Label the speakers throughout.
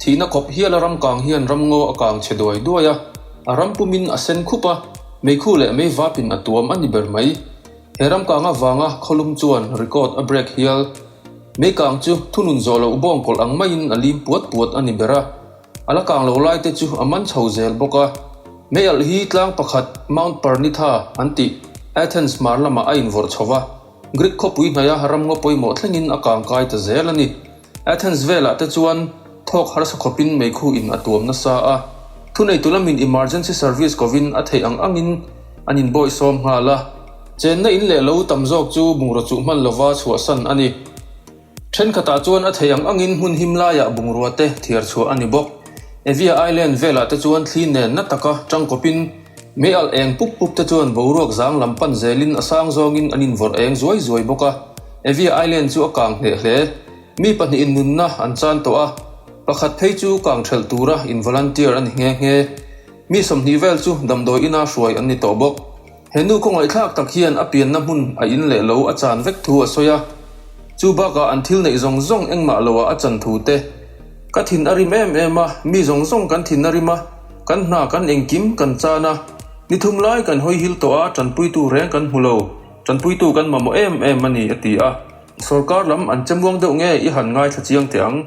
Speaker 1: Thihna khawp hiala ram kang hian ram ngaw a kang chhe duai duai a, a ram pumin a sen khup a, meikhu leh mei vapin a tuam a ni ber mai. He ram kang avanga khawlum chuan record a break hial. Mei kang chu thunun zawh loh bawngkawlh ang maiin a lim puat puat a ni ber a. A la kang lo laite chu a man chho zel bawk a. Mei alh hi tlang pakhat Mount Parnitha an tih Athens hmar lamah a invorh chho va, Greek khawpui hnaia ram ngaw pawimawh thlengin a kang kai ta zel a ni. Athens velah te chuan thawk harsa khawpin meikhu in a tuam nasa a, thuneitu lamin emergency service kovin a theih ang angin an in bawisawm nghal a. Chenna in leh lo tam zawk chu bungraw chuh hman lova chhuahsan a ni. Thenkhatah chuan a theih ang angin hmun him laiah bungrua te thiar chhuah a ni bawk. Evia Island velah te chuan thli nenna taka tangkawpin Mi alh eng pup pup te chuan boruak zang lam pan zelin a sang zawngin an invawrh eng zuai zuai bawk a, Evia Island chu a kang hneh hle. Mi pahnihin nunna an chan tawh a, pakhat phei chu kang ṭhelh tura in volunteer a ni nghe nghe. Mi sawmhnih vel chu damdawi ina hruai an ni tawh bawk. He nu khawngaihthlak tak hian a pianna hmun a in leh lo a chan vek thu a sawi a. Chu bakah an thil neih zawng zawng engmah lo ah a chan thu te ka thin a rim em em a, mi zawng zawng kan thin a rim a. Kan hna kan engkim kan chan a, ni thum lai kan hawihil tawh a, tanpuitu reng kan hmu lo, tanpuitu kan mamawh em em a ni, a ti a. Sorkar lam an chemuang deuh nge i han ngaithla chiang teh ang?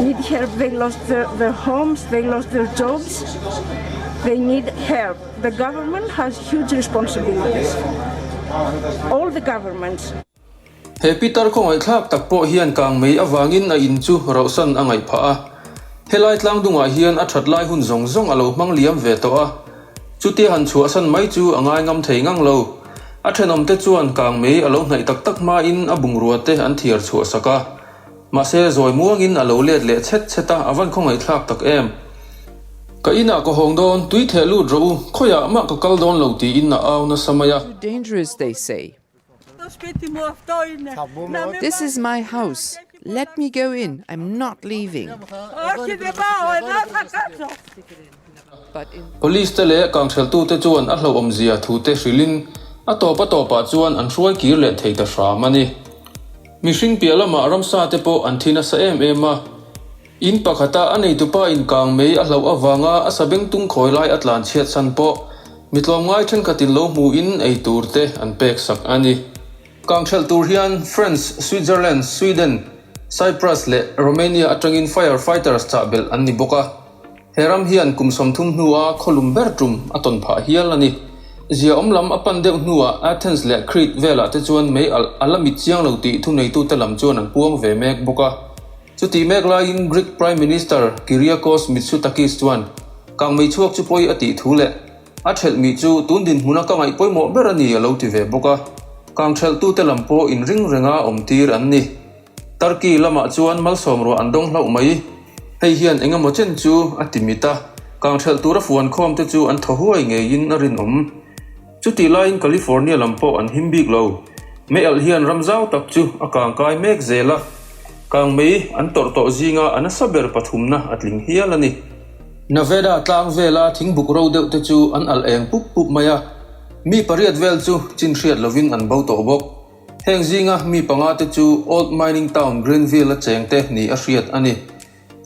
Speaker 2: need help they lost their homes they lost their jobs they need help the government has huge responsibility all the government He
Speaker 1: Peter khawngaihthlak tak pawh hian kang mei avangin a in chu rohsan a ngaih phah a, helai tlangdungah hian a that lai hun zawng zawng a lo hmang liam ve tawh a, chutia han chhuahsan mai chu a ngai ngam thei ngang lo. A thenawmte chuan kang mei a lo hnaih tak tak hmain a bungrua te an thiar chhuah sak a. Mahse, zawi muangin a lo let leh chhet chhet a, a van khaw ngaihthlak tak em! Ka inah ka hawng dawn, tui theh lut rawh u, khawiah mah ka kal dawn lo tiin a au nasa mai a. Too dangerous they
Speaker 3: say. This is my house, let me go in, I'm not leaving.
Speaker 1: Police te leh kanghreltute chuan a hlauhawmzia thute hrilhin a tawp a tawpah chuan an hruai kir leh thei ta hram a ni. Mihring piah lamah ramsa te pawh an thi nasa em em a. In pakhata a neitupa inkang mei a hlauh avanga a sabeng tung khawi lai a tlan chhiatsan pawh mi tlawmngai thenkhatin lo hmuhin ei tur te an pek sak a ni. Kanghrelh tur hian France, Switzerland, Sweden, Cyprus leh Romania atangin fire fighters chahbelh an ni bawk a. He ram hian kum sawmthum hnua khawlum ber tum a tawn phah hial a ni. Zia awm lam a pan deuh hnuah Athens leh Crete velah te chuan mei alh a la mit chiang lo tih thuneitute lam chuan an puang ve mek bawk a. Chutih mek laiin Greek Prime Minister Kyriakos Mitsotakis chuan Kang mei chhuak chu pawi a tih thu leh a ṭhelh mi chu tun dinhmuna ka ngaih pawimawh ber a ni a lo ti ve bawk a. Kang ṭhelhtute lam pawh in ring renga awm tir an ni. Turkey lamah chuan malsawm ruah an dawng hlauh mai. Hei hian eng emaw chen chu a ti mit a, kang ṭhelh tura fuan khawm te chu an thaw huai ngeiin a rinawm. Chutih laiin California lam pawh an him bik lo. Mealh hian ram zau tak chu a kang kai mek zel a, kang mei an tawrh tawh zinga a nasa ber pathumna a tling hial a ni. Nevada tlang vela thing buk ro deuh te chu an alh eng pup pup mai a, mi pariat vel chu chin hriat lovin an bo tawh bawk. Heng zinga mi panga te chu Old Mining Town Greenville-a cheng te nih a hriat a ni.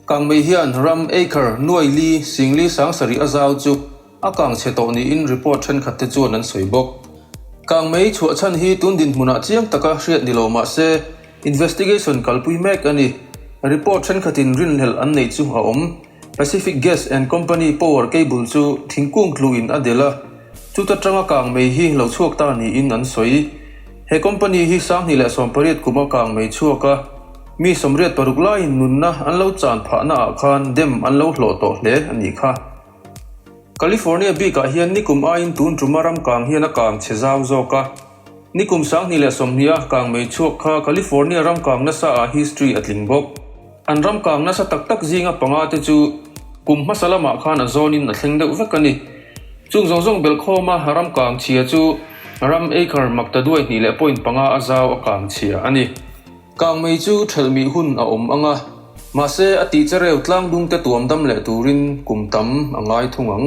Speaker 1: Kang mei hian ram acre nuai li sing li sang sarih a zau chu a kang chhe tawh niin report thenkhat te chuan an sawi bawk. Kang mei chhuah chhan hi tun dinhmunah chiang taka hriat ni lo mah se investigation kalpui mek a ni. Report thenkhatin rinhlelh an neih chu a awm. Pacific Gas and Company power cable chu thingkung tluin a del a, chuta tanga kang mei hi lo chhuak ta niin an sawi. He company hi sanghnih leh sawmpariat kuma kang mei chhuak a, mi sawmriat paruk laiin nunna an lo chan phahnaah khan dam an lo hlawh tawh hle a nih kha. California bikah hian nikum aiin tun tuma ram kang hian a kang chhe zau zawk a. Nikum sanghnih leh sawmhnih a kang mei chhuak kha California ram kang nasaah history a tling bawk. An ram kang nasa tak tak zinga panga te chu kum hmasa lamah khan a zawnin a thleng deuh vek a ni. Chung zawng zawng belkhawma ram kang chhia chu ram acre makta duai hnih leh point panga a zau a kang chhia a ni. Kang mei chu thelh mih hun a awm ang a, mahse a tih che reu tlang dungte tuam dam leh turin kum tam a ngai thung ang.